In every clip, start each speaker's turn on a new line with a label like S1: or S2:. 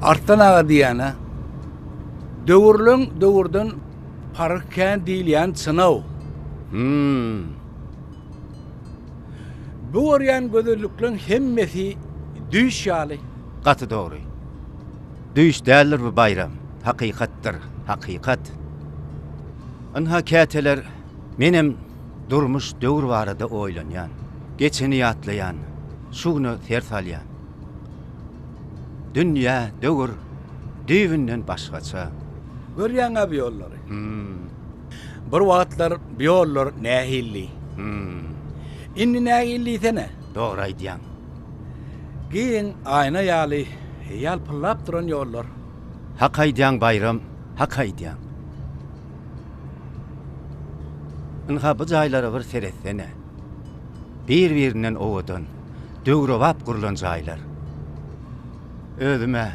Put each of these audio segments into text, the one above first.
S1: Artdan aga diýýän-ä. Döwürleň döwürden paryk kän diýilýän çyn-ow. Hümm. Bu görýän gözellikleň hemmesi düýş ýaly. Gaty dogry.
S2: Düýş däldir bu Baýram. Hakykatdyr. Hakykat. Ynha käteler menem durmuş döwür barada oýlanýan. Geçeni ýatlaýan, şu güne ser salýan. Dünýä, döwür düýbünden başgaça. Görýäň-ä
S1: bu ýollary. Bir wagtlar bu ýollar nähildi. Indi nähili diýsene. Dogry aýdýaň. Giň aýna ýaly ýalpyldap duran ýollar. Hak aýdýaň
S2: Baýram, hak aýdýaň. Ynha bu jaýlara bir seretsene. Bir-birinden owadan, döwrebap gurlan jaýlar. Özüm-ä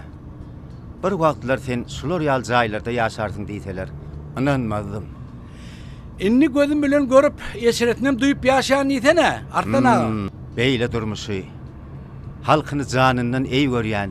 S2: bir wagtlar sen şular ýaly jaýlarda ýaşarsyň diýseler, ynanmazdym.
S1: Indi gözüm bilen görüp, eşretinem duýup ýaşaýan diýsene, Arslan aga. Beýle durmuşy,
S2: halkyny janyndan eý görýän.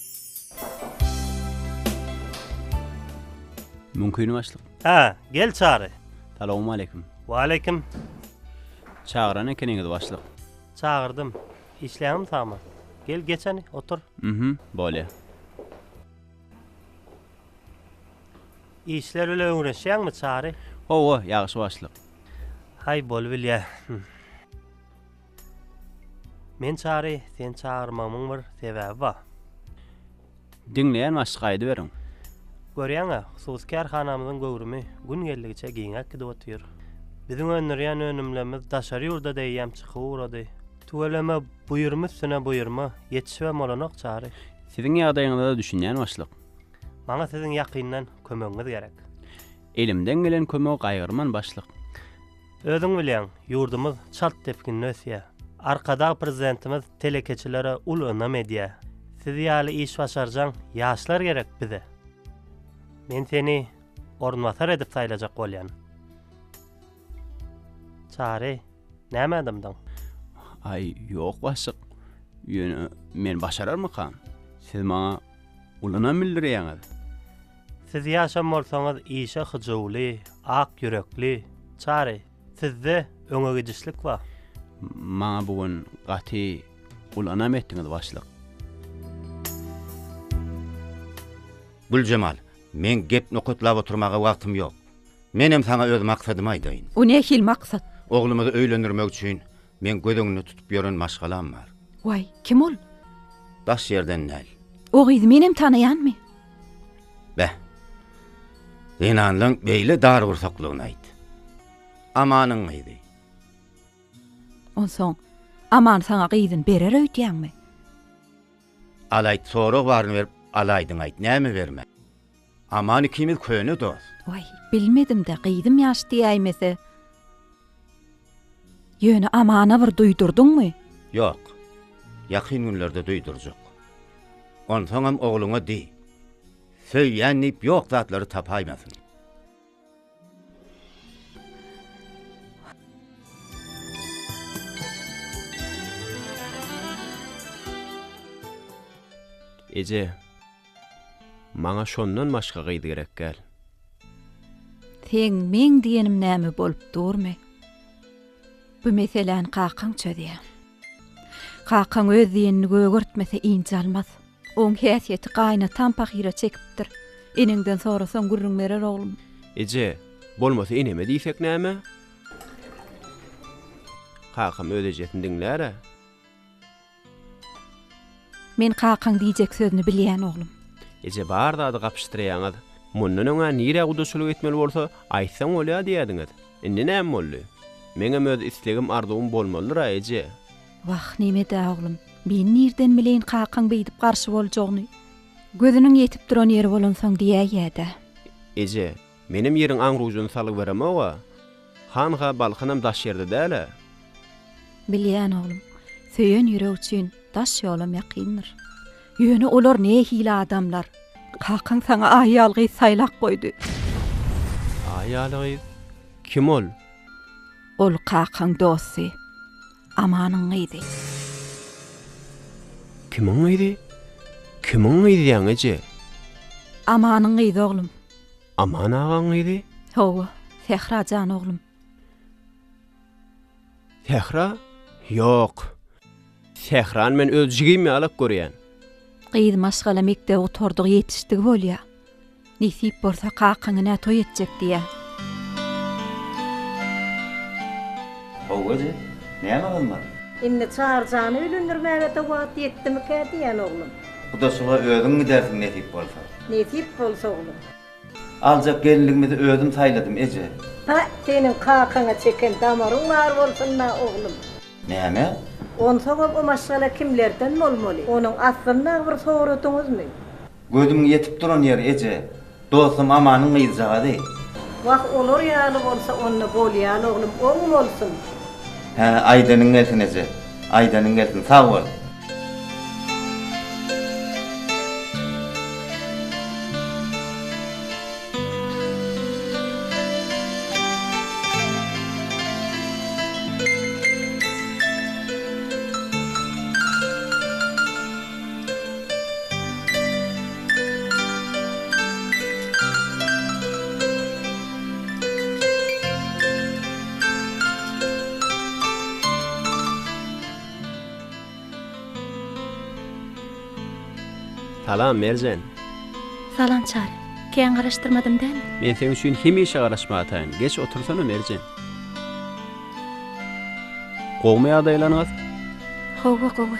S3: Mümkin başlyk. Hä, gel Çary.
S4: Salowmaleýkim.
S3: Waleýkim. Çagyran ekeniňiz başlyk. Çagyrdym.
S4: Işleýäňmi saman? Gel geç hany, otur. Mhm, bolýa. Işler bilen öňreşýäňmi Çary? Hawa, ýagşy
S3: başlyk. Haý,
S4: bolubilýä. Men çary sen çagyrmagmyň bir sebäbi ba.
S3: Diňleýän başlyk aýdyberiň. Görýäňä,
S4: hususy kärhanamyzyň göwrümi gün geldigiçe giňäp gidip otyr. Biziň öndürýän önümlerimiz daşary ýurda deýýäm çykyp ugrady. Tüweleme, buýurma üstüne buýurma, ýetişibem bolanok çary. Siziň ýagdaýyňyza-da
S3: düşünýän başlyk. Maňa siziň
S4: ýakyndan kömegiňiz gerek. Elimden
S3: gelen kömegi gaýgyrman başlyk. Özüň
S4: bilýäň, ýurdumyz çalt depginde ösýär. Arkadag Prezidentimiz telekeçilere uly ynam edýär. Siz ýaly iş başarjaň ýaşlar gerek bize. Men seni orunbasar edip saýlajak bolýan. Çary, näme adamdyň? Aý,
S3: ýok başlyk. Ýöne men başararmykam? Siz maňa uly ynam bildirýäňiz. Siz
S4: ýaşan bolsaňyz işe hyjuwly, ak ýürekli, Çary, sizde öňe gidişlik bar. Maňa bu
S3: gün gaty uly ynam etdiňiz başlyk.
S2: Güljemal, meň gep nokatlap oturmaga wagtym ýok. Menem saňa öz maksadymy aýdaýyn. O nähili maksat?
S5: Oglumyzy öýlendirmek
S2: üçin Meň göz öňünde tutup ýören maşgalam bar. Waý, kim ol?
S5: Daş
S2: ýerden däl. O gyzy menem
S5: tanaýanmy?
S2: Beh. Zenanlaň beýle dargursaklygyny aýt. Amanyň gyzy. Onsoň,
S5: Aman saňa gyzyny berer öýdýäňmi?
S2: Al aýt, sorag baryny berip, al aýdyň aýt, näme bermä? Aman ikimiz köne dost. Waý, bilmedim-dä,
S5: gyzym ýaş diýäýmese. Ýöne Amana bir duýdurdyňmy? Ýok.
S2: Ýakyn günlerde duýdurjak. Onsoňam ogluňa diý. Söýýän diýip ýok zatlary tapaýmasyn.
S3: Eje, maňa şondan başga gyz gerek däl.
S5: Seň meň diýenim näme bolup durmy? Bu meseläni kakaň çözýä. Kakaň öz diýenini gögertmese injalmaz. Oň häsiýeti gaýynatam pahyra çekipdir. Eneňden sorasaň gürrüň berer oglum. Eje,
S3: bolmasa eneme diýsek näme? Kakam öz ejesini diňlär-ä.
S5: Men kakaň diýjek sözüni bilýän oglum. Eje bar zady
S3: gapyşdyraýaňyz. Mundan öň-ä nirä gudaçylyk etmeli bolsa, aýtsaň bolýa diýýädiňiz. Indi näme boldy? Meňem öz islegim-arzuwym bolmalydyr-a eje. Wah, neme-dä,
S5: oglum, men nirden bileýin kakaň beýdip garşy boljagyny. Gözüniň ýetip duran ýeri bolansoň
S3: diýäýýä-dä. Eje, menem
S5: ýeriň
S3: aň-rujuny salyberemog-a. Hanha Balkanam daş ýerde däl-ä.
S5: Bilýän, oglum. Söýen ýürek üçin daş ýolam ýakyndyr. Ýöne olar nähili adamlar? Kakaň saňa aýal gyz saýlap goýdy. Aýal
S3: gyz? Kim ol? Ol
S5: kakaň dosty. Amanyň gyzy.
S3: Kimiň gyzy? Kimiň gyzyaň eje?
S5: Amanyň gyzy oglum. Aman
S3: agaň gyzy? Hawa,
S5: Sähra jan oglum.
S3: Sähra? Ýok. Sährany men öz jigim ýalak görýän. Gyz
S5: maşgala mekdebi gutardygy ýetişdigi bolýa. Nesip bolsa kakaňynä toý etjek diýä.
S2: How eje, näme gymmat? Indi Çaryjany
S6: öýlendirmäge-de wagt ýetdimikä diýýän oglum. Gudaçylyga
S2: özüň gidersiň nesip bolsa. Nesip bolsa
S6: oglum. Aljak
S2: gelinligimizi özüm saýladym eje. Pä, seniň
S6: kakaňa çeken damaryň bar bolsun-da oglum. Näme?
S2: Onsoňam
S6: o maşgala kimlerden bolmaly? Onuň aslynda bir soradyňyzmy? Gözüň
S2: ýetip duran ýer eje. Dostum Amanyň gyzjagazy. Wah
S6: olar ýaly bolsa onda bolýan oglum oň bolsun. Hä
S2: aýdanyň gelsin eje. Aýdanyň gelsin sag bol.
S3: Salam, Merjen! Salam,
S5: Çary! Kän garaşdyrmadym däl? Men seň üçin hemişe
S3: garaşmataýyn. Geç otursana, Merjen! Gowumy ýagdaýlaryňyz? Hawa,
S5: gowy.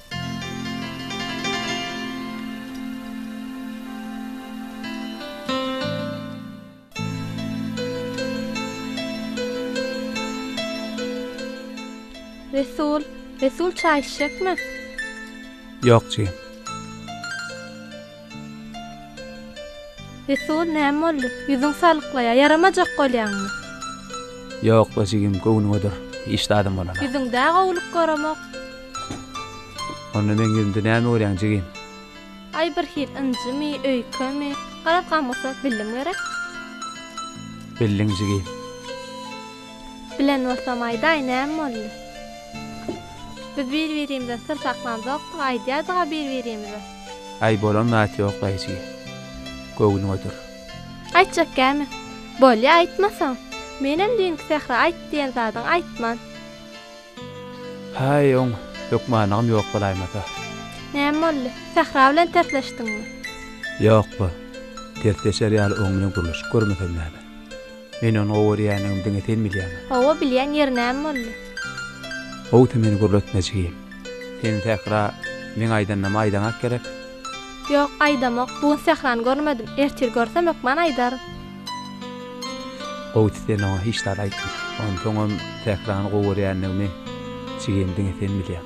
S7: Resul, Resul çaý içjekmi?
S1: Ýok, jigim.
S7: Resul, näme boldy? Ýüzüň salyklaýar. Ýaramajak bolýaňmy?
S1: Ýok-la, jigim, göwnüňedir. Hiç zadam bolanok. Ýüzüňde-ä gowulyk
S7: göremok.
S1: Onda meň ýüzümde näme görýäň, jigim? Aý,
S7: birhili ynjymy, öýkemi? Garaz, gamgysat bildim gerek?
S1: Bildiň, jigim.
S7: Bilen bolsam, aýdaý, näme boldy? Biz bir-birimizden syr saklanjak, aýdýardyg-a bir-birimize. Aý bolan
S1: zat ýok daýyjy. Göwnüň ötür. Aýtjak
S7: gämi. Bolýa aýtmasaň. Menem düýnki Sähra aýt diýen zadyň aýtman. Haý
S1: oň hökmanygam ýok bolaýmasa. Näme boldy?
S7: Sähra bilen tersleşdiňmi? Ýok-la.
S1: Tersleşer ýaly oň bilen gürleşip görmesem näme. Men ony gowy görýändigimi diňe sen bilýäňä. Hawa, bilýän, ýeri
S7: näme boldy? Howty
S1: meni gürletme, jigim. Sen Sähra meň aýdanymy aýdaňak gerek? Ýok,
S7: aýdamok. Bu gün Sährany görmedim. Ertir görsem, hökman aýdaryn.
S1: Howty sen oňa hiç zat aýtma. Onsoňam Sährany gowy görýändigimi, jigim, diňe sen bilýäň.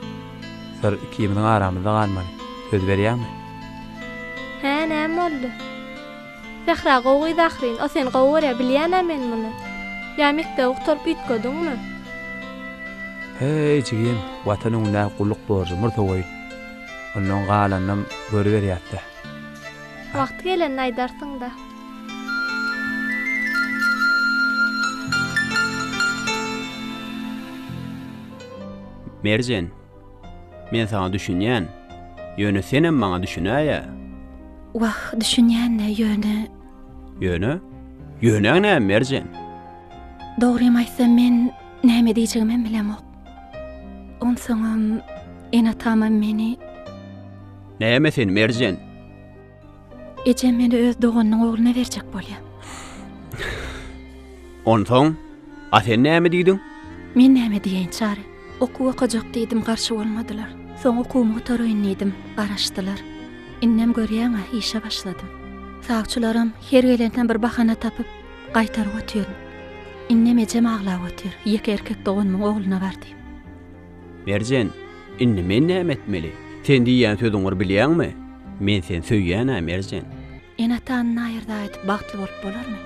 S1: Syr ikimiziň aramyzda galmaly. Söz berýäňmi?
S7: Hä, näme boldy? Sähra gowydy ahyryn o sen gowy görýä bilýänä men muny ýa mekdebi gutaryp üýtgediňmi.
S1: Heý jigim watan öňündäki gulluk borjy murta goýun ondan galanynam görüberýäsdä.
S7: Wagty gelende aýdarsyňda.
S3: Merjen. Men saňa düşünýän. Ýöne senem maňa düşünäýä. Wah,
S5: düşünýän-le, ýöne. Ýöne?
S3: Ýönäň näme, Merjen? Dogrymy
S5: aýtsam, men näme diýjegimem bilemok. Onsoňam, ene-atamam meni.
S3: Näme sen, Merjen?
S5: Ejem meni öz doganynyň ogluna berjek bolýar.
S3: Onsoň, a sen näme
S5: diýdiň?
S3: Men
S5: näme diýeýin,
S3: Çary?
S5: Okuw okajak diýdim, garşy bolmadylar. Soň okuwymy gutaraýyn diýdim, garaşdylar. Indem görýäň-ä, işe başladym. Sawçylaram her gelende bir bahana tapyp, gaýtaryp otyryn. Indem ejem aglap otyr, ýeke erkek doganymyň ogluna bar diýip. Merjen,
S3: Indi men näme etmeli? Sen diýýän sözüňir bilýäňmi? Men seni söýýän-ä, Merjen. Ene-atany
S5: naýyrda aýdyp bagtly bolup bolarmy?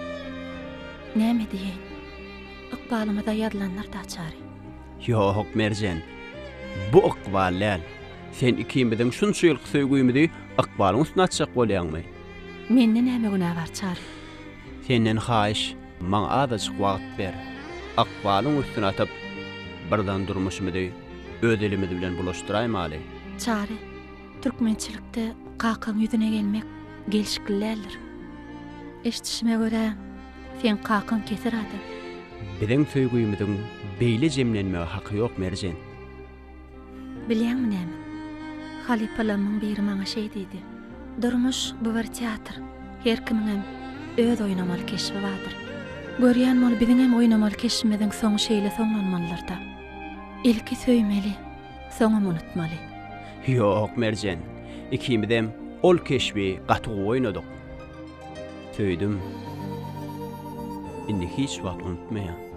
S5: Näme diýeýin? Ykbalymyza ýazylandyr daçary. Ýok,
S3: Merjen. Bu ykbal däl. Sen ikimiziň şunça ýylky söýgümizi ykbalyň üstüne atjak bolýaňmy? Mende näme
S5: günä bar, Çary? Senden
S3: haýyş. Maňa azajyk wagt ber. Ykbalyň üstüne atyp, birden durmuşymyzy öz elimiz bilen bulaşdyraýmaly. Çary,
S5: türkmençilikde kakaň ýüzüne gelmek gelşikli däldir. Eşdişime görä, seň kakaň kesir adam. Biziň
S3: söýgümiziň beýle jemlenmege haky ýok, Merjen.
S5: Bilýäňmi näme? Halypalarymyň biri maňa şeý diýdi, Durmuş, bu bir teatr. Her kimiňem öz oýnamaly keşbi bardyr. Görýän bol, biziňem oýnamaly keşbimiziň soňy şeýle soňlanmalydyr-da. Ilki söýmeli, soňam unutmaly. Ýok,
S3: Merjen. Ikimizem ol keşbi gaty gowy oýnadyk. Söýdüm. Indi hiç wagt unutmaýan.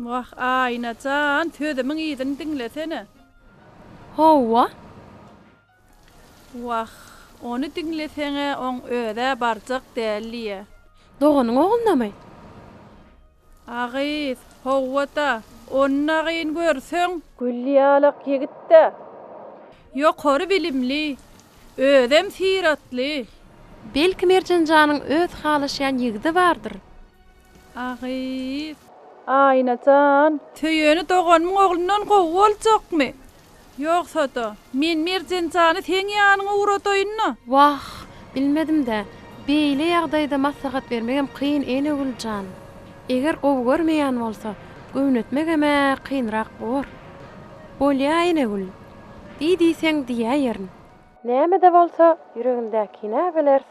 S8: Wah Aýna jan sözümiň yzyny diňlesene.
S7: Howwa.
S8: Wah ony diňleseňä oň özä barjak däl diýýä. Doganyň
S7: oglunamy? A
S8: gyz, Howwa-da, onnagyň görseň. Gül ýalak ýigit-dä. Ýokary bilimli, özem syratly. Belki
S7: Merjen janyň öz halaşýan ýigidi bardyr? A
S8: gyz. Aýna jan. Söýeni doganymyň oglundan gowy boljakmy? Ýogsa-da, men Merjen jany seň ýanyňa ugradaýyn-da. Wah,
S7: bilmedim-dä. Beýle ýagdaýda maslahat bermegem kyn, Enegül jan. Eger gowy görmeýän bolsa, göwnetmegem-ä kynrak bor. Bolýa, Enegül. Diý diýseň, diýäýerin. Näme-de bolsa, ýüregindäkini-ä bileris.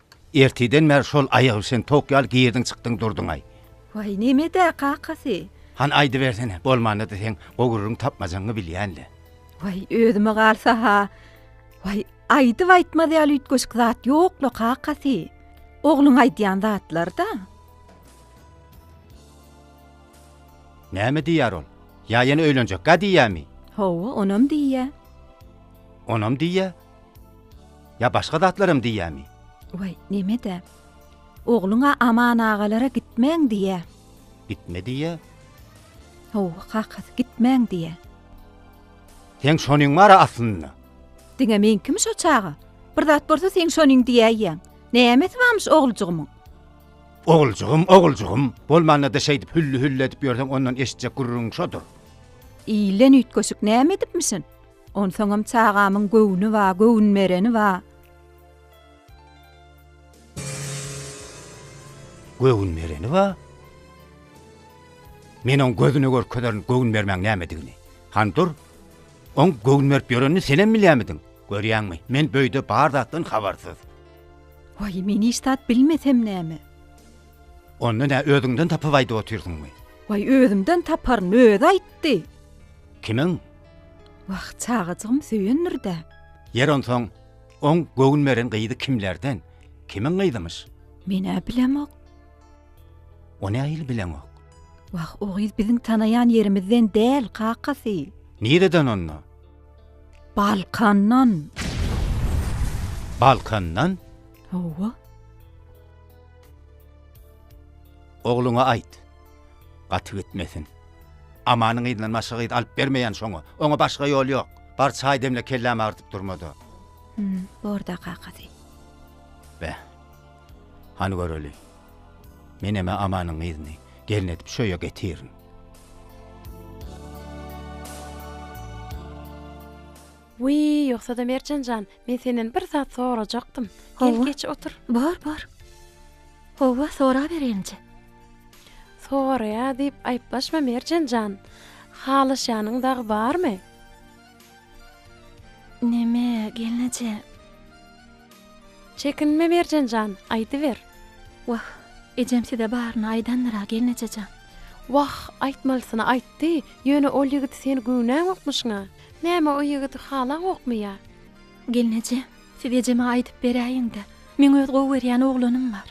S2: Ertirden bäri şol aýagybişen towuk ýaly girdiň-çykdyň durduň-aý. Waý, neme-dä,
S5: kakasy? Hany aýdybersene,
S2: bolmanda-da seň gowurryň tapmajaňy bilýän-le. Waý,
S5: özüme galsa-ha, waý, aýdyp aýtmaz ýaly üýtgeşik zat ýok-la, kakasy. Ogluň aýdýan zatlar-da.
S2: Näme diýýär ol? Ýa ýene öýlenjek-gä diýýämi? Hawa, onam
S5: diýýä.
S2: Onam diýýä? Ýa başga zatlaram diýýämi? Waý, neme-dä.
S5: Ogluň-a Aman agalara gitmäň diýýä. Gitme diýýä?
S2: Hawa,
S5: kakasy, gitmäň diýýä.
S2: Seň şonyň bar-a aslynda? Diňe meňkimi
S5: şo çaga? Bir zat bolsa seň şonyň diýäýýäň. Nämesi barmyş oglujygymyň? Oguljygym, oguljygym.
S2: Bolmanda-da şeýdip hülli-hülli edip ýörseň ondan eşitjek
S5: gürrüňiň
S2: şodur. Ilden
S5: üýtgeşik
S2: näme edipmişin?
S5: Onsoňam çagamyň göwni ba, göwün bereni ba.
S2: Göwün bereni ba? Men oň gözüne görkezerin göwün bermäň nämedigini. Han dur. Oň göwün berip ýörenini senem bilýämidiň? Görýäňmi, men böýde bar zatdan habarsyz. Waý,
S5: men hiç zat bilmesem näme?
S2: Onda nä özüňden tapyp aýdyp otyrsyňmy? Waý, özümden
S5: taparyn, özi aýtdy. Kimiň?
S2: Wah,
S5: çagajygym söýendir-dä. Ýeri onsoň,
S2: oň göwün beren gyzy kimlerden, kimiň gyzymyş? Men-ä bilemok. O nähili bileňok? Wah, o
S5: gyz biziň tanaýan ýerimizden däl, kakasy. Nireden onda?
S2: Balkandan. Balkandan? Hawa. Ogluňa aýt. Gaty gitmesin. Amanyň yzyndan başga gyz alyp bermeýän şoňa. Oňa başga ýol ýok. Bar çaý demle kellämi agyrdyp durmada. Hum, borda
S5: kakasy. Beh.
S2: Hany göreli. Meneme Amanyň yzyny gelin edip şu öýe getirin.
S7: Wiý, ýogsa-da Merjen jan, men senden bir zat sorajakdym. Gel, geç otur. Bor, bor.
S5: Hawa, soraberin-je.
S7: Soraýa diýip aýyplaşma, Merjen jan. Halaşýanyň dagy barmy?
S5: Näme, gelneje?
S7: Çekinme, Merjen jan, aýdyber. Wah,
S5: ejem size baryny aýdandyr-a, gelneje jan. Wah,
S7: aýtmalysyny aýtdy, ýöne ol ýigit sen göwnäňokmyşyň-a. Näme o ýigidi halaňokmy ýa? Gelneje,
S5: siz ejeme aýdyp beräýiň-de, meň öz gowy görýän oglanym bar.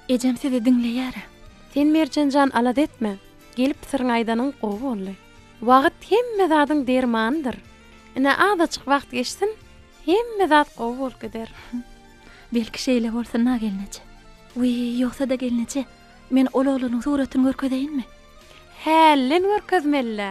S5: Ejem sizi diňleýär-ä. Sen Merjen
S7: jan alada etme. Gelip syryňy aýdanyň gowy boldy. Wagt hemme zadyň dermanydyr. Ine azajyk wagt geçsin, hemme zat gowy bolup gider. Belki
S5: şeýle bolsun-a gelneje. Wiý, ýogsa-da gelneje, men ol oglanyň suratyny görkezeýinmi? Hälden
S7: görkezmeli-dä.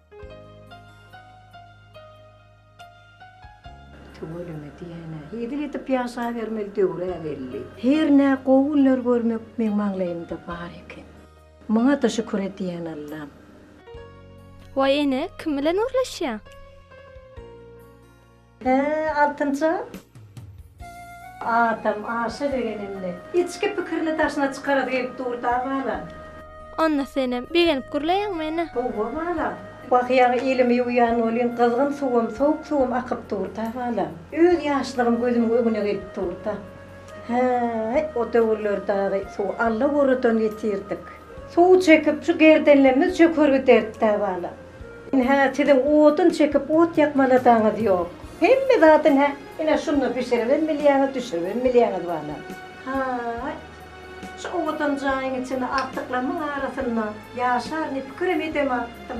S6: Tüweleme diýen-ä. Hezil edip ýaşabermeli döwür-ä belli. Her nä gowy günler görmek meň maňlaýymda bar eken. Muňa-da şükür edýän Allam.
S9: Waý ene, kim bilen gürleşýäň?
S6: He, altynjam. Adam aşa begenende, içki pikirini daşyna çykarasy gelip dur-da, balam. Onda
S9: senem begenip gürleýäň meni. Howwa, balam.
S6: Bakýaň, elimi ýuwýan welin, gyzgyn suwum, sowuk suwum akyp dur-da, balam. Öz ýaşlygym gözümiň öňüne gelip dur-da. Häý, o döwürler dagy suwy Alla goradan ýetirdik. Suw çekip, şu gerdenlemimiz çöker giderdi-dä, balam. Ynha, siziň odun çekip ot ýakmalasaňyz ýok. Hemme zat ynha, ine şunda bişiribem bilýäňiz, düşüribem bilýäňiz bana. Haý, şu owadan jaýyň içinde agtyklamyň arasynda ýaşar diýip pikirem edemapdym.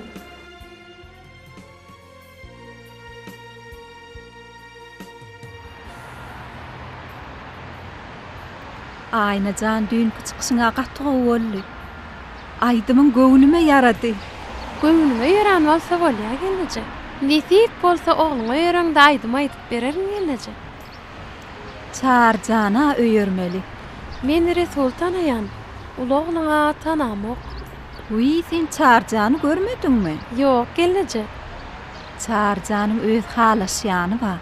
S5: Aýnajan düýnki çykyşyňa gaty gowy boldy. Aýdymyň göwnüme ýarady. Göwnüňe
S7: ýaran bolsa bolýa gelneje. Nesip bolsa ogluňa ýöreňde aýdym aýdyp bererin gelneje. Çary
S5: jana öýermeli. Men
S7: Resul tanaýan, uly ogluňa tanamok. Wiý
S5: sen Çary jany görmediňmi. Ýok gelneje.
S7: Çary
S5: janyň öz halaşýany bar.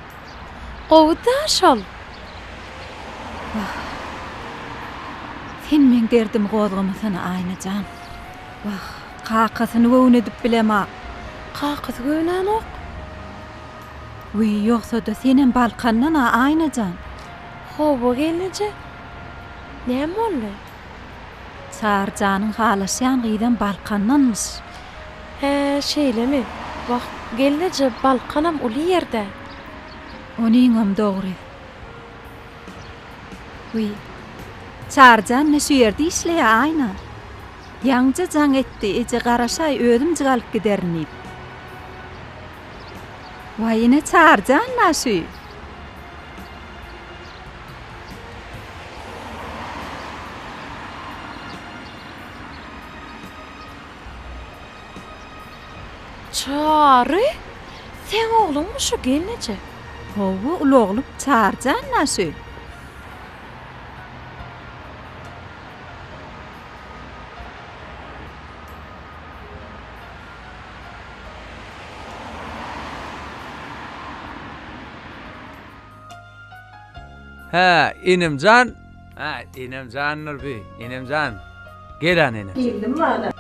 S5: Gowy-da
S7: şol. Wah.
S5: Sen meň derdimi gozgamasana, Aýna jan. Wah, kakasyny göwün edip bilemok. Kakasy
S7: göwnänok.
S5: Wiý, ýogsa-da senem Balkandan-a, Aýna jan. Hawa,
S7: gelneje. Näme boldy? Çary
S5: janyň halaşýan gyzam Balkandanmyş. Hä,
S7: şeýlemi? Wah, gelneje, Balkanam uly ýer-dä.
S5: Onyňam dogry. Wiý, Çaryjan ne şu ýerde işleýä, Aýna? Ýaňja jaň etdi, eje garaşaý, özümjik alyp giderin diýip. Waý, ine Çaryjan-la şu.
S7: Çary! Seň ogluňmy şu gelneje? Hawa, uly
S5: oglum Çary jan naşy.
S1: Hä, inemjan. Hä, inemjan Nurbi, inemjan. Gel an enem. Geldim bala.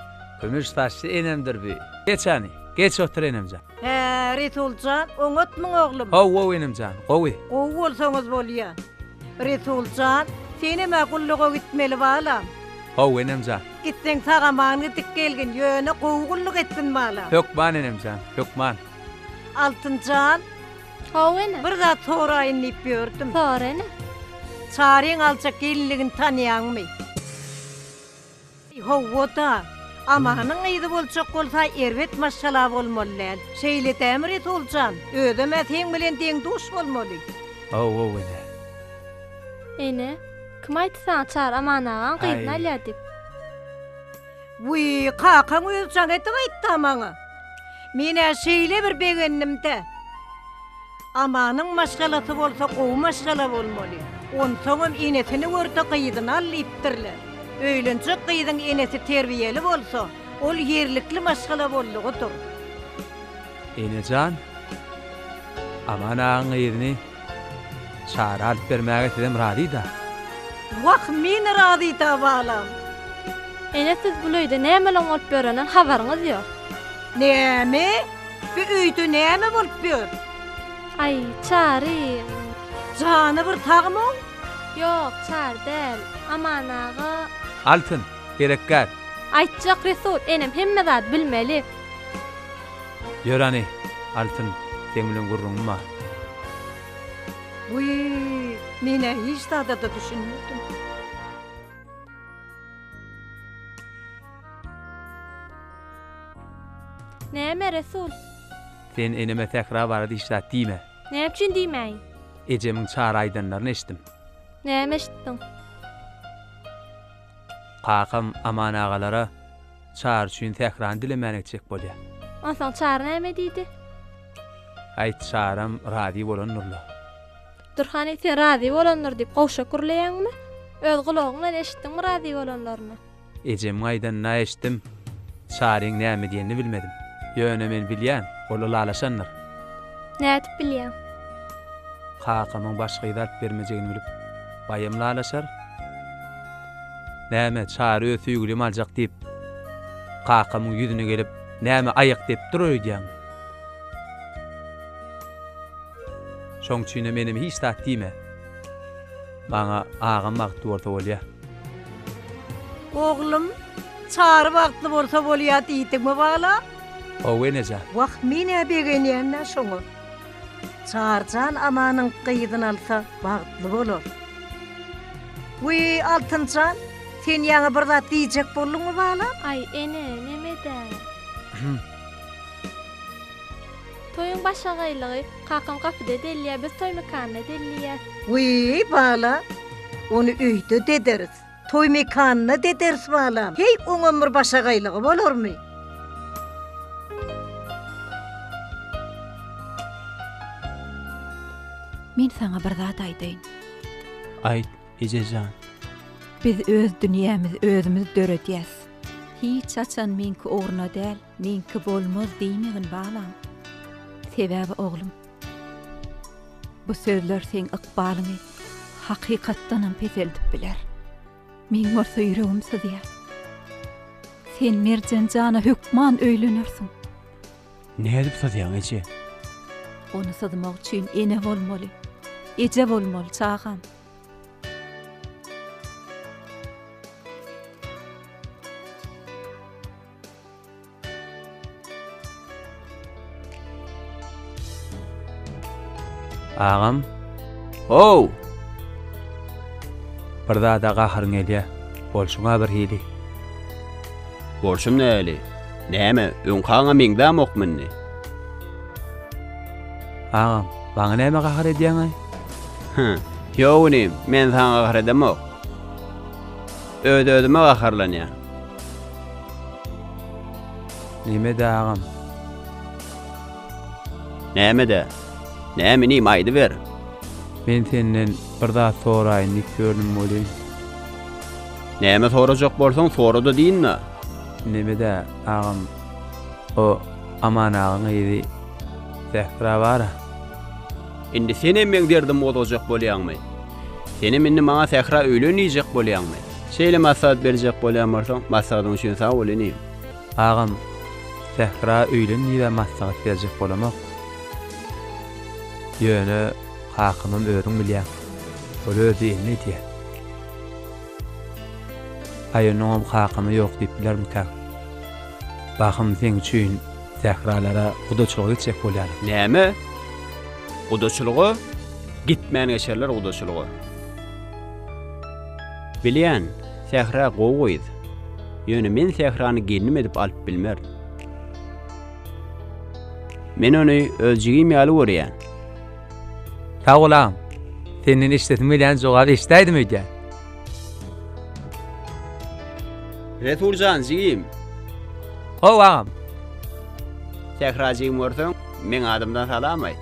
S6: Kümüş saçly
S1: enemdir bi. Geç ani, geç otur enemjan. Hä, Resuljan,
S6: oňatmyň oglum? Haw-wow enemjan,
S1: gowy. Gowy bolsaňyz
S6: bolýa. Resuljan, senem-ä gulluga gitmeli balam. Haw enemjan.
S1: Gitseň sag-aman
S6: gidip gelgin, ýöne gowy gulluk etgin bala. Hökman enemjan,
S1: hökman. Altynjan,
S6: Haw
S9: ene. Bir zat soraýyn
S6: diýip ýördüm. Sora ene.
S9: Çaryň
S6: aljak gelinligini tanýaňmy? Hawa-da. Amanyň gyzy boljak bolsa erbet maşgala bolmaly däl. Şeýle dämi Resul jan? Özem-ä seň bilen deň-duş bolmaly. Haw-haw ene.
S9: Ene, kim aýtdy saňa Çary Aman agaň gyzyny alýar diýip? Wiý,
S6: kakaň özi jaň edip aýtdy-a maňa. Men-ä şeýle bir begendim-dä. Amanyň maşgalasy bolsa gowy maşgala bolmaly. Onsoňam enesini görse gyzyny al diýipdirler. Öýlenjek gyzyň enesi terbiýeli bolsa, ol ýerlikli maşgala boldugydyr.
S1: Enejan, Aman agaň gyzyny Çary alyp bermäge sizem razyda. Wah
S6: meni razyda balam. Ene
S9: siz bul öýde nämeleň bolup ýöreniň habaryňyz ýok. Näme?
S6: Bu öýde näme bolup ýör? Aý
S9: Çary. Jany
S6: bir sagmyň? Ýok
S9: Çary däl. Aman aga. Altyn,
S1: gerekgär. Aýtjak
S9: Resul enem hemme zady bilmeli.
S1: Ýör hany, Altyn, seň bilen gürrüňim bar.
S6: Wiý, men-ä hiç zada-da düşünmedim.
S9: Näme, Resul? Sen
S1: eneme sähra barada hiç zat diýme. Näme üçin diýmäýin?
S9: Ejemiň çara
S1: aýdanlaryny eşitdim. Näme eşitdiň? Kakam Aman agalara Çary üçin sährany dilemäni etjek bolýar. Onsoň Çary
S9: näme diýdi?
S1: Aýt, Çaram razy bolandyr-la. Dur hany,
S9: sen razy bolandyr diýip gowşak gürleýäňmi? Öz gulagyň bilen eşitdiňmi razy bolanlaryny? Ejemiň
S1: aýdanyny-a eşitdim. Çaryň näme diýenini bilmedim. Ýöne men bilýän, ol ylalaşandyr. Nädip
S9: bilýäň?
S1: Kakamyň başga yz alyp bermejegini bilip. Baýam lalaşar. Näme, Çary öz söýgülimi aljak diýip, kakamyň ýüzüne gelip, näme aýak depip durar öýdýäňmi? Şoň üçinem eneme hiç zat diýme. Maňa agam bagtly bolsa bolýar. Oglum,
S6: Çary bagtly bolsa bolýar diýdiňmi bala? Hawa, enejan.
S1: Wah, men-ä
S6: begenýän-dä şoňa. Çarjan Amanyň gyzyny alsa bagtly bolar. Wiý, Altynjan, sen ýaňy bir zat diýjek bolduňmy balam? Aý, ene,
S9: neme-dä? Toýuň başagaýlygy, kakam gapyda delýär, biz toý mekanyna delýäs. Wiý,
S6: bala, ony öýde dederis. Toý mekanyna dederis balam. Heý, oňam bir başagaýlygy bolarmy?
S5: Men saňa bir zat aýdaýyn. Aýt,
S3: eje jan. Biz
S5: öz dünýämiz özümiz döredýäs. Hiç haçan meňki ugruna däl, meňki bolmaz diýmegin balam. Sebäbi oglum. Bu sözler seň ykbalyňy hakykatdanam peseldip biler. Meň bolsa ýüregim syzýar. Sen Merjen jana hökman öýlenersiň.
S3: Nädip syzýaň, eje? Ony
S5: syzmak üçin ene bolmaly. Eje bolmaly, çagam.
S1: Agam. Ow! Bir zada gaharyň gelýä. Bolşuň-a bir hili.
S3: Bolşum näli? Näme, öňkaňa meňzämokmy indi?
S1: Agam, maňa näme gahar edýäň-aý? Hä,
S3: ýok inim, men saňa gahar edemok. Öz-özüme gaharlanýan. Nemede
S1: agam?
S3: Nämede? Näme inim aýdyber. Men
S1: senden bir zat soraýyn diýip ýördüm welin.
S3: Näme sorajak bolsaň sorada diýinna. Nemede
S1: agam? O Aman agaň gyzy Zähra bara.
S3: Indi senem meň derdimi gozgajak bolýaňmy? Senem indi maňa Sähra öýlen diýjek bolýaňmy? Şeýle maslahat berjek bolýan bolsaň maslahatyň üçin sag bol inim. Agam
S1: Sähra öýlen diýibä maslahat berjek bolamok. Ýöne kakamam özüň bilýäň. Ol öz diýenini edýär. Aý onuňam kakamy ýok diýip bilermikäň. Bahym seň üçin Sähralara gudaçylyga gitjek bolýarlar. Näme?
S3: Gudaçylyga? Gitmän geçerler gudaçylyga. Bilýän, Sähra gowy gyz. Ýöne men Sährany gelnim edip alyp bilmerin. Men ony öz jigim ýaly görýän.
S1: Sag bol agam. Senden eşidesim gelýän jogaby eşidäýdim öýdýän.
S3: Resul jan jigim.
S1: Hawa agam.
S3: Sähra jigim görseň, meň adymdan salam aýt.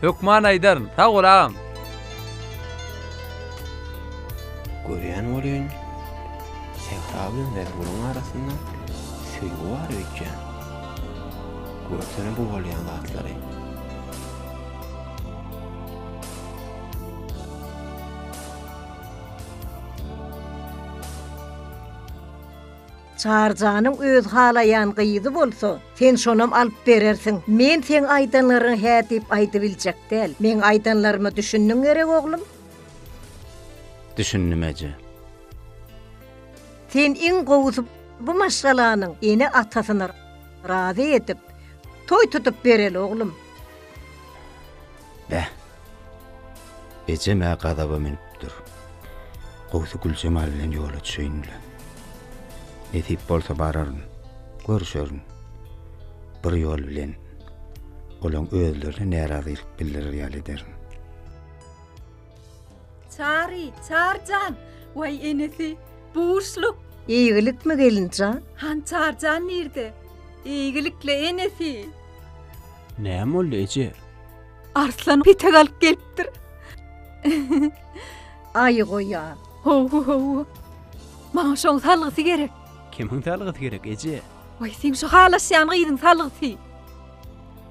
S3: Hökman
S1: aýdaryn. Sag bol agam.
S3: Görýän welin, sähra bilen Zergulyň arasynda söýgi bar öýtýän. Görsene bu bolýan zatlary.
S6: Çarjanyň özi halaýan gyzy bolsa, sen şonam alyp berersiň. Men seň aýdanlaryňy hä diýip aýdyp biljek däl. Meň aýdanlaryma düşündiň gerek, oglum? Düşündim,
S2: eje.
S6: Sen iň gowusy bu maşgalanyň ene-atasyny razy edip, toý tutup bereli, oglum.
S2: Beh! Ejem-ä gazaba münüpdir. Gowusy Güljemal bilen ýola düşeýin-le. Nesip bolsa bararyn, görüşerin. Bir ýol bilen, olaň özlerine närazylyk bildirer ýaly ederin.
S5: Çary, Çary jan! Waý enesi, bu buşluk! Eýgilikmi,
S6: gelin jan? Han Çary jan
S5: nirde? Eýgilik-le, enesi!
S3: Näme boldy, eje? Arslan
S5: petek alyp gelipdir.
S6: Aýy goýa. Ho-ho ho.
S5: Maňa şoň salgysy gerek. Kimiň salgysy
S3: gerek eje? Oý, sen şu
S5: halaşýan gyzyň salgysy.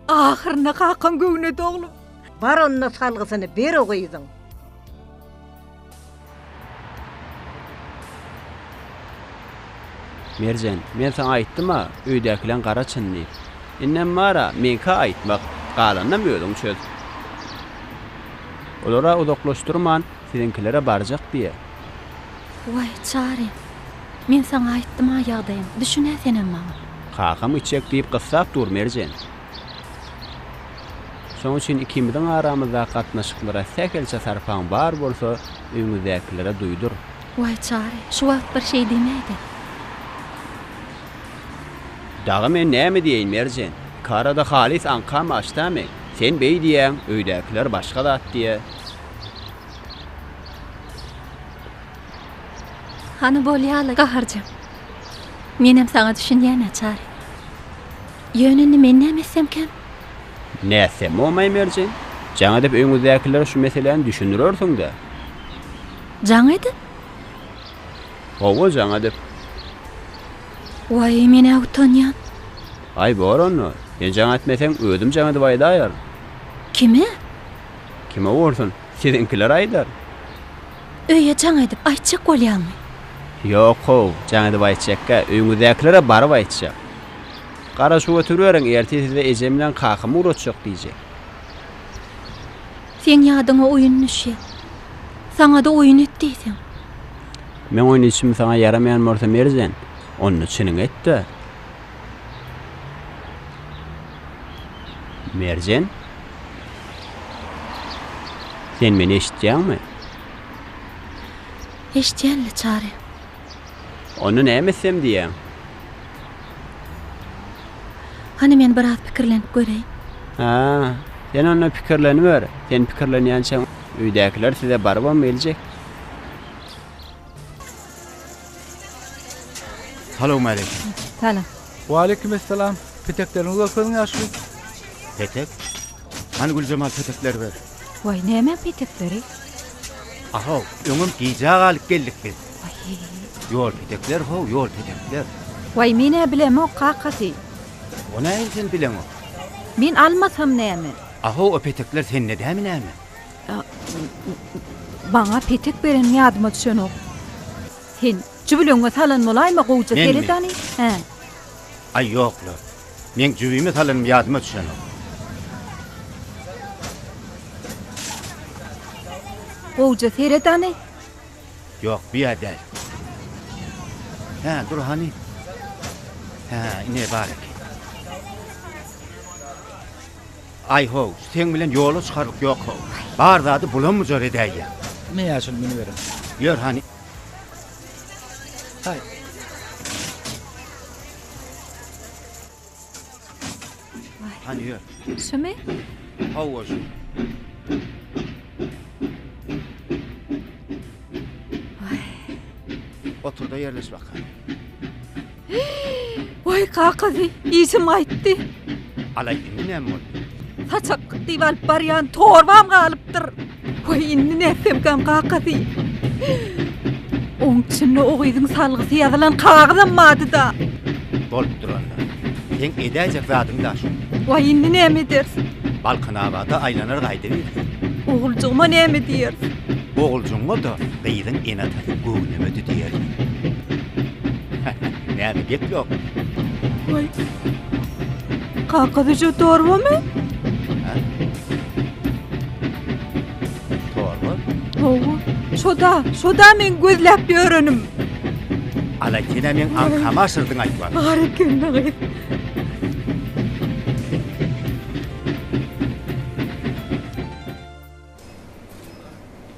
S5: Ahyrynda kakam göwne doglum. Bar onda
S6: salgysyny ber o gyzyň.
S3: Merjen, men saňa aýtdym-a, öýdäkileň gara çyn diýip. Indem bar-a, meňkä aýtmak, galanynam özüň çöz. Olar-a uzaklaşdyrman, siziňkilere barjak diýe. Waý,
S5: Çary, men saňa aýtdym-a ýagdaýym, düşün-ä senem maňa. Kakam içjek
S3: diýip gyssap dur, Merjen. Şonuň üçin ikimiziň aramyzdaky gatnaşyklara sähelçe sarpaň bar bolsa, öýüňizdäkilere duýdur. Waý, Çary,
S5: şu wagt bir şeý deme-de.
S3: Dagy men näme diýeýin, Merjen? Iki arada halys aňkam açdamy? Sen beý diýýäň, öýdäkiler başga zat diýýär.
S5: Hany bolýa-la, gaharjaň. Menem saňa düşünýän-ä, Çary. Ýöne indi men näme etsemkäm? Nätse,
S3: momaý Merjen. Jaň edip öýüňizdäkilere şu meseläni düşündirersiň-dä.
S5: Jaň edip?
S3: Hawa, jaň edip.
S5: Waý, men-ä utanýan. Aý, bor
S3: onda. Sen jaň etmeseň, özüm jaň edip aýdaýaryn. Kime? Kime bolsun. Siziňkiler aýdar.
S5: Öýe jaň edip aýtjak bolýaňmy? Ýok-how,
S3: jaň edip aýtjakka, öýüňizdäkilere baryp aýtjak. Gara şuw oturyberiň, ertir size ejem bilen kakam ugratjak diýjek.
S5: Seň ýadyňa oýun düşýär. Saňa-da oýun et diýseň.
S3: Meň oýnuşym saňa ýaramaýan bolsa Merjen, onda çynyňy et-de, Merjen? Sen meni eşitýäňmi?
S5: Eşitýän-le, Çary.
S3: Onda näme etsem diýýäň?
S5: Hany men biraz pikirlenip göreýin. Hä,
S3: sen onda pikirleniber. Sen pikirlenýänçäň öýdäkiler size barybam geljek.
S2: Salowmaleýkim. Salam.
S1: Waleýkim essalam. Petekleriňi görkeziň
S5: ýaşuly.
S1: Petek?
S2: Hany Güljemal petekleri ber. Waý, nämäň
S5: petekleri?
S2: A-how, öňem gijä galyp geldik biz. Waýy.
S5: Ýol petekler,
S2: how, ýol petekler. Waý, men-ä
S5: bilemok, kakasy. O näme
S2: sen bileňok? Men almasam
S5: näme? A-how, o petekler
S2: sende dämi näme?
S5: Maňa petek berenim ýadyma düşenok. Sen jübüliňe salan bolaýma gowja seredany. Hä. Aý
S2: ýok-la. Meň jübime salanym ýadyma düşenok.
S5: Gowja seredany. Ýok,
S2: bu ýerde däl. Hä, dur hany. Hä, ine bar eken. Aý-how, seň bilen ýola çykarlyk ýok-how. Bar zady bulam-bujar edäýýäň. Ine ýaşuly
S10: münüberin. Ýör hany. Haý.
S2: Hany ýör. Şumy?
S5: Hawa
S2: şu. Otur-da ýerleş bakalym.
S5: Waý, kakazy, işim gaýtdy. Ala,
S2: indi näme boldy? Saçak
S5: diýip alyp barýan torbam galypdyr. Waý, indi nätsemkäm, kakazy. Oň içinde o gyzyň salgysy ýazylan kagyzam bardy-da. Bolupdyr
S2: onda. Seň edäýjek zadyň-da şo. Waý, indi näme
S5: ederis? Balkanabada
S2: aýlanar gaýdyberseň. Oguljygyma
S5: näme diýeris? Oguljygyňa-da
S2: gyzyň ene-atasy göwnemedi diýeris. Näme gep ýok? Oý.
S5: Kaka Züje torbamy? Ha?
S2: Torba? Hawa.
S5: Şoda, şoda men gözläp ýörenim.
S2: Ala kene men aňkama aşyrdyň aýtman. Bar eken dagy.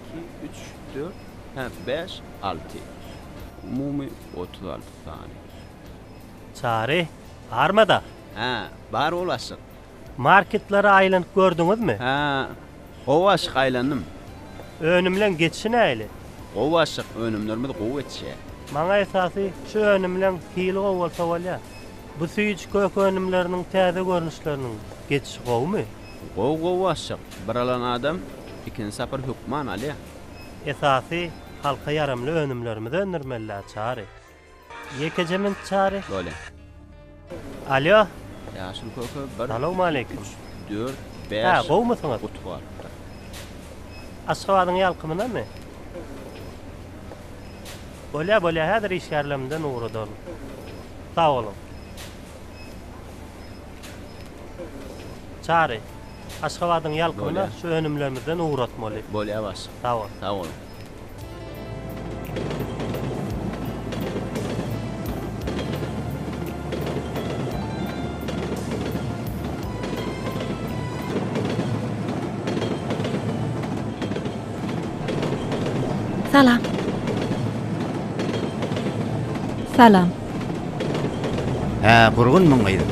S3: Iki, üç, dört, hä, bäş, alty. Umumy otuz alty sany.
S4: Çary, barma-da? Hä,
S3: bar ol aşyk. Marketlere
S4: aýlanyp gördüňizmi? Hä,
S3: gowy aşyk, aýlandym. Önümleň
S4: geçişi nähili? Gowy aşyk,
S3: önümlerimiz gowy geçýär. Maňa esasy
S4: şu önümleň hili gowy bolsa bolýar. Bu süýji kök önümleriniň täze görnüşleriniň geçişi gowumy? Gowy gowy başjak.
S3: Bir alan adam ikinji sapar hökman alýa. Esasy
S4: halka ýaramly önümlerimizi öndürmelidä Çary. Ýekeje minut Çary. Bolýa. Alýo. Ýaşyl
S3: köke bir. Salowmaleýkim. Üç,
S4: dört,
S3: bäş. Hä, gowumysyňyz? Guty
S4: galypdyr.
S3: Aşgabadyň
S4: ýalkymynamy? Bolýa, bolýa, häzir işgärlerimden ugradar. Sag boluň. Çary, Aşgabadyň ýalkynyna şu önümlerimizden ugratmaly. Bolýar başlyk. Sag
S3: bol. Sag boluň. Salam.
S5: Salam.
S2: Hä, gurgun muň gyzym.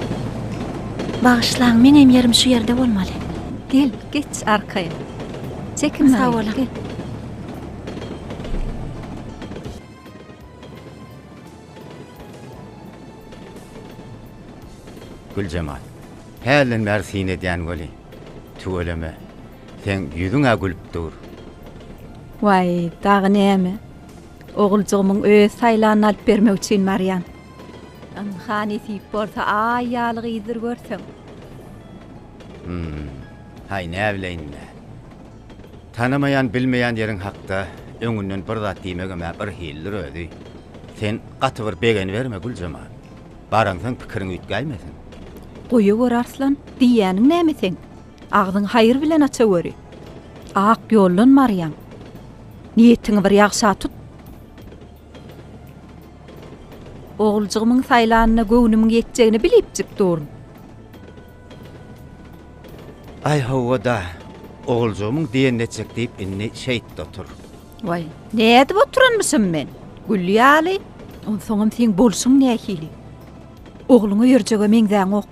S5: Bagyşlaň, meňem ýerim şu ýerde bolmaly. Gel, geç arkaýyn. Çekinme, Sag boluň. gel.
S2: Güljemal. Hälden bäri syn edýän weli. Tüweleme. Seň ýüzüň-ä gülüp dur.
S5: Waý, dagy näme? Oguljygymyň öz saýlanyny alyp bermek üçin barýan. Ynha, nesip bolsa, Aý ýaly gyzdyr görseň. Hum.
S2: Haý, näbileýin-le. Tanamaýan, bilmeýän ýeriň hakda öňünden bir zat diýmegem-ä bir hildir özi. Sen gaty bir begeniberme, Güljemal. Baraňsoň pikiriň üýtgäýmesin. Goýawor,
S5: Arslan, diýýäniň näme seň? Agzyňy haýyr bilen açaweri. Ak ýoldan barýaň. Niýetiňi bir ýagşa tut. Oguljygymyň saýlanyna göwnümiň ýetjegini bilipjik durun.
S2: Aý hawa-da, oguljygymyň diýenini etjek diýip indi şeýtde otur. Waý,
S5: nädip oturanmyşym men? Gül ýaly, onsoňam seň bolşuň nähili? Ogluňa ýörjege meňzäňok.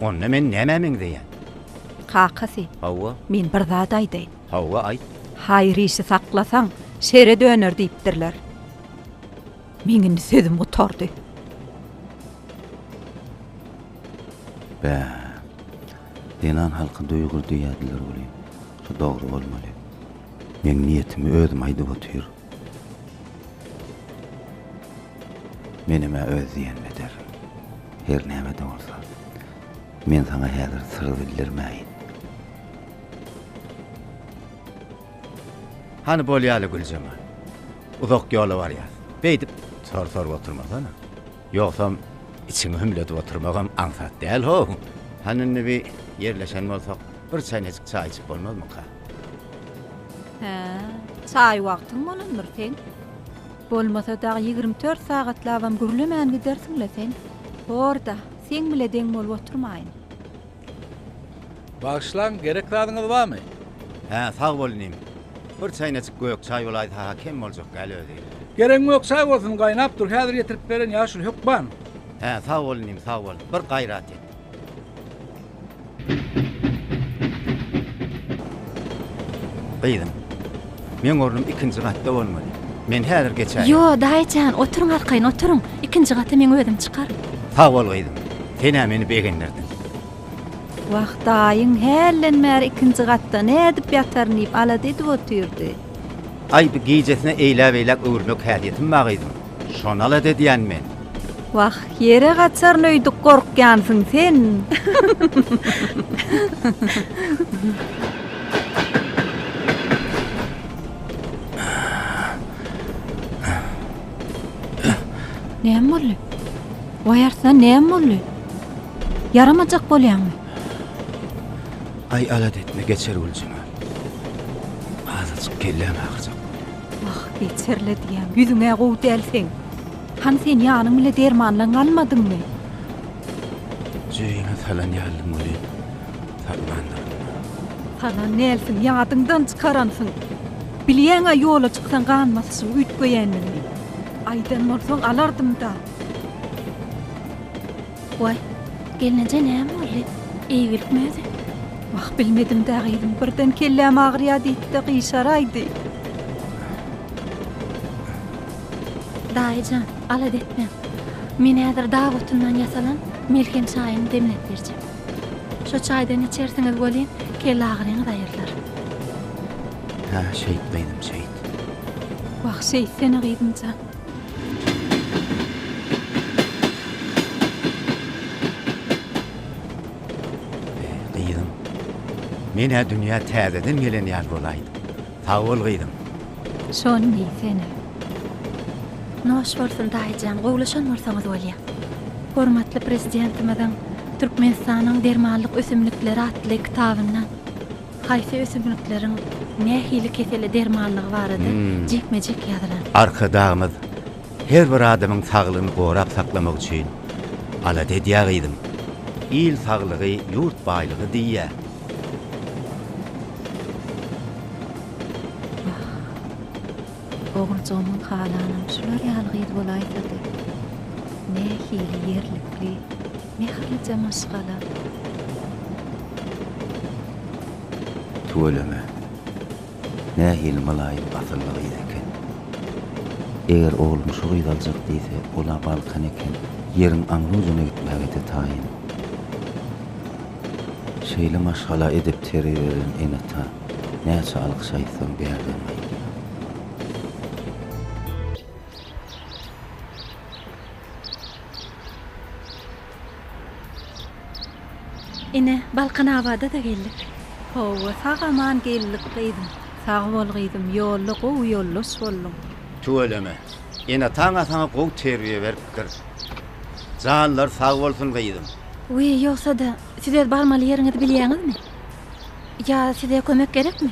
S5: Onda
S2: men nämä meňzeýän? Kakasy.
S5: Hawa. Men
S2: bir zat aýdaýyn.
S5: Hawa, aýt.
S2: Haýyr işi
S5: saklasaň, şere döner diýipdirler. Meň indi sözüm gutardy.
S2: Bä. Zenan halky duýgur diýýärdiler welin, şu dogry bolmaly. Meň niýetimi özüm aýdyp otyr. Menem-ä öz diýenimi ederin. Her näme-de bolsa, men saňa häzir syr bildirmäýin. Hany bolýaly, Güljemal. Uzak ýola barýas. Beýdip sor sorup oturmasana. Ýogsam, içiňi hümledip oturmagam aňsat däl-how. Hany indi bir ýerleşen bolsak, bir çäýnejik çaý içip bolmazmyka? Hä,
S5: çaý wagtyň bolandyr seň. Bolmasa dag ýigrimi dört sagatlabam gürlemän gidersiň-le sen. Bor-da, seň bile deň bolup oturmaýyn.
S1: Bagyşlaň, gerek zadyňyz barmy? Hä, sag
S2: bol inim. Bir çaýnaçyk gök çaý bolaýsa-ha kem boljak däl özi. Geregiň ýok, çaý
S1: bolsun, gaýnap dur, häzir getirip beren ýa şul hökman. Hä, sag bol
S2: inim, sag bol. Bir gaýrat et. Gyzym, meň ornum ikinji gatda bolmaly. Men häzir geçäýen. Ýo, daýyjan,
S5: oturyň arkaýyn, oturyň. Ikinji gata men özüm çykaryn. Sag bol, gyzym.
S2: Sen-ä meni begendirdiň. Wah,
S5: daýyň hälden bäri ikinji gatda nädip ýataryn diýip alada edip otyrdy. Aý, bu
S2: gijesine eýläk-eýläk öwürmek häsiýetim bar, gyzym. Şonal-a edýän men. Wah,
S5: ýere gaçaryn öýdüp gorkýansyň sen. Näme boldy? Waý artdan näme boldy? Ýaramajak bolýaňmy?
S2: Aý alat etme geçer Güljüme. Azajyk kelläm agyrjak. Wah, eý,
S5: terledýäň, ýüzüň-ä gowy däl seň. Hany sen ýanyň bile dermanlan galmadyňmy?
S2: Jebime salan ýalydyň welin, tapmandyryn-da.
S5: Salan dälsiň, ýadyňdan çykaransyň. Bilýäň-ä ýola çyksaň ganbasyşyň üýtgeýändigini. Aýdan bolsaň alardym-da. Waý, gelneje näme boldy? Eýgilikmi özi? Wah, bilmedim-dä, gyzym, birden kelläm agyrýar diýip-de gyşaraýdy. Daýy jan, alada etmäň. Men häzir dag otundan ýasalan melhem çaýyny demläp berjek. Şo çaýdan içersiňiz welin, kelle agyryňyz aýrylar. Hä,
S2: şeýt, gyzym, şeýt. Wah,
S5: şeýtsene, gyzym jan.
S2: Gyzym, men-ä dünýä täzeden gelen ýaly bolaýdym. Sag bol, gyzym. Şony
S5: diý, sen-ä. Noş bolsun, daýyjan, gowlaşan bolsaňyz bolýa. Hormatly Prezidentimiziň Türkmenistanyň dermanlyk ösümlikleri atly kitabyndan. Haýsy ösümlikleriň nähili kesele dermanlygy barada jikme-jik ýazylar. Arkadagymyz
S2: her bir adamyň saglygyny gorap saklamak üçin alada edýär gyzym. Il saglygy, ýurt baýlygy diýýär.
S5: Wah, oguljygymyň halanam şular ýaly gyz bolaýsady. Nähili ýerlikli. Mähirlije maşgala.
S2: Tüweleme. Nähili mylaýym asylly gyz eken. Eger oglum şu gyzy aljak diýse, ol-a Balkan eken. Ýeriň aňry-ujuna gitmäge-de taýyn. Şeýle maşgala edip terbiýelän ene-ata näçe alkyş aýtsaň bärden gaýdýar.
S5: Ine, Balkanabada-da geldik. Hawa, sag-aman geldik, gyzym. Sag bol, gyzym, ýolda gowy ýoldaş bolduň. Tüweleme.
S2: Ene-ata-aňa saňa gowy terbiýe beripdir. Janlary sag bolsun, gyzym. Wiý, ýogsa-da,
S5: siz öz barmaly ýeriňizi bilýäňizmi? Ýa size kömek gerekmi?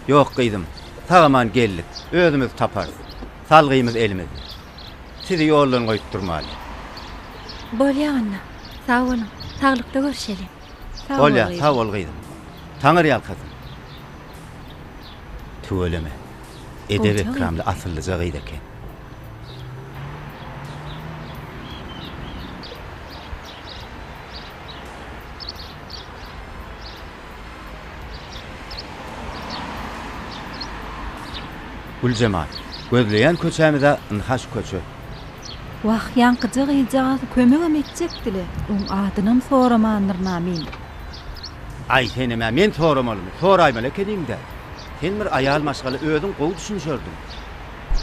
S5: Ýok, gyzym.
S2: Sag-aman geldik. Özümiz taparys. Salgymyz elimizde. sizi ýoldan goýup durmaly.
S5: Bolýa onda, sag boluň, saglykda görüşeli. Sag bol, gyzym. Bolýa, sag
S2: bol, gyzym. Taňyrýalkasyn. Tüweleme, edep-ekramly, asyllyja gyz eken. Güljemal, Gözleýän köçämiz-ä ynha şu köçe. Wah,
S5: ýaňkyja gyzjagaz kömegem etjekdi-le, oň adynam soramandyryn-a men.
S2: Aý, senem-ä men soramalymy? Soraýmaly ekeniň-dä. Sen bir aýal maşgala özüň gowy düşünişerdiň.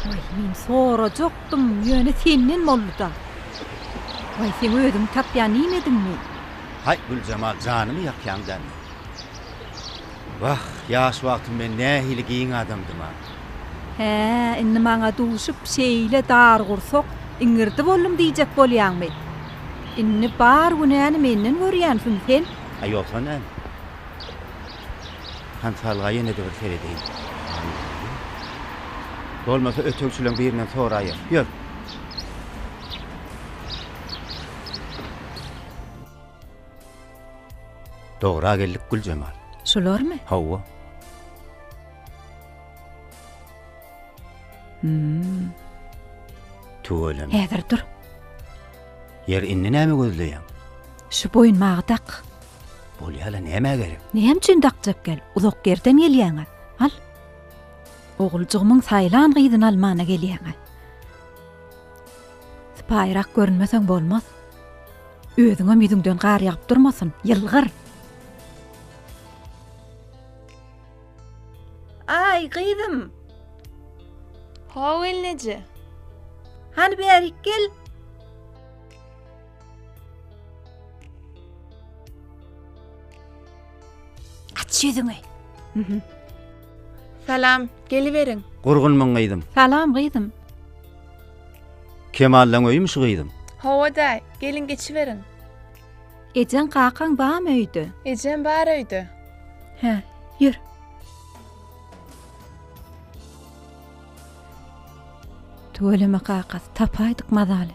S2: Waý,
S5: men sorajakdym, ýöne senden boldy-da. Waý, sen özüňi tapýan iýmediňmi? Haý,
S2: Güljemal, janyňy ýakýaň dälmi? Wah, ýaş wagtym men nähili giň adamdym-a! Hä,
S5: indi maňa duşup, şeýle dargursak, iňirdi boldum diýjek bolýaňmy? Indi bar günäni menden görýänsiň sen? A ýogsa näme?
S2: Hansalga ýene-de bir seredeýin. Bolmasa ötegçileň birinden soraýas. Ýör! Dogra geldik Güljemal. Şularmy? Hawa. Hmm. Tüweleme. Häzir dur. Ýer indi näme gözleýäň? Şu
S5: boýunmagy dak. Bolýala
S2: näme gerek? Näme üçin dakjak
S5: gel? Uzak ýerden gelýäňä. Al. Oguljygymyň saýlan gyzyny almana gelýäňä. Sypaýyrak görünmeseň bolmaz. Özüňem ýüzüňden gar ýagyp durmasyn, ýylgyr! Aý, gyzym! Haw,
S10: gelneje!
S5: Hany bärik gel! Aç ýüzüňi!
S10: Salam, geliberiň! Gurgunmyň, gyzym!
S2: Salam, gyzym! Kemallan öýümi şu gyzyň? Hawa-daý,
S10: geliň geçiberiň.
S5: Ejeň kakaň bamy öýde? Ejem bar öýde.
S10: Hä,
S5: ýör. Tüweleme kakasy, tapaýdyk mazaly.